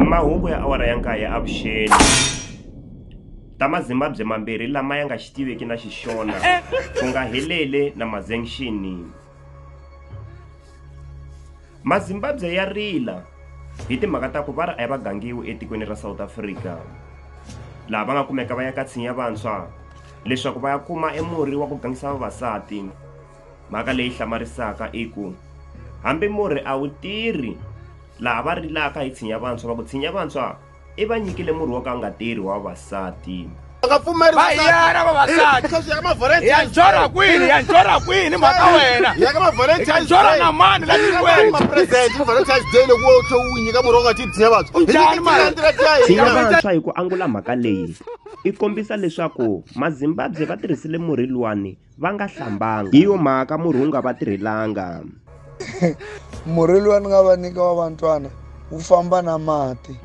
Mahungu ya awara ya nkaye ya avuxeni. Ta Mazimbabwe mambirhi lama ya nga xi tiveki na Xixona ku nga Helele na Mazengshini. Mazimbabwe ya rila hi timhaka ta ku va ri a ya va gangiwi etikweni ra South Africa laha va nga kumeka va ya ka tshinya vantshwa leswaku va ya kuma emurhi wa ku gangisa vavasati. Mhaka leyi hlamarisaka i ku hambi murhi a wu tirhi laha va rilaka hi tshinya vantshwa va ku tshinya vantshwa i va nyikile murhi wo ka nga tirhi wa vavasati nga pfumeli va yena vavasati ya njora kwini ya njora kwini mhaka wena ya njora na mani la tikweni mapresident ni valentine's day loko wo tlhe u nyika murhi wa nga tidyinya vantshwa unjani malitsinya vantshwa hi ku angula mhaka leyi i kombisa leswaku mazimbabwe va tirhisile murhi luwani va nga hlambanga hi yo mhaka murhi wu nga va tirhelanga murhi lowa ni nga va nyika wa vantwana wu famba na mati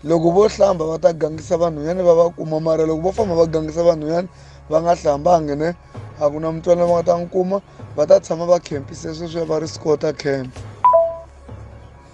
loko vo hlamba va ta gangisa vanhwanyani va va kuma mara loko vo famba va gangisa vanhwanyani va nga hlambangi ne a ku na mutswana va nga ta n'wi kuma va ta tshama va khempise sweswiya va ri scota camp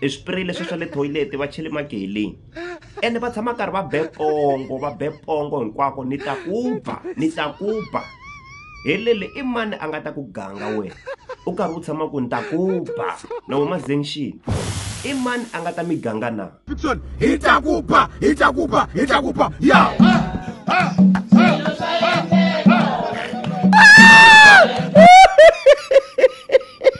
i swipireyi leswi swa le thoyileti va chele mageleni ene va tshama karhi va be pongo va be pongo hinkwako ni ta ku ba ni ta ku ba helele i mani a nga ta ku ganga wena u karhi u tshama ku ni ta ku ba na huma zengxini i mani a nga ta mi ganga na hi ta ku ba hi ta ku ba hi ta ku ba ya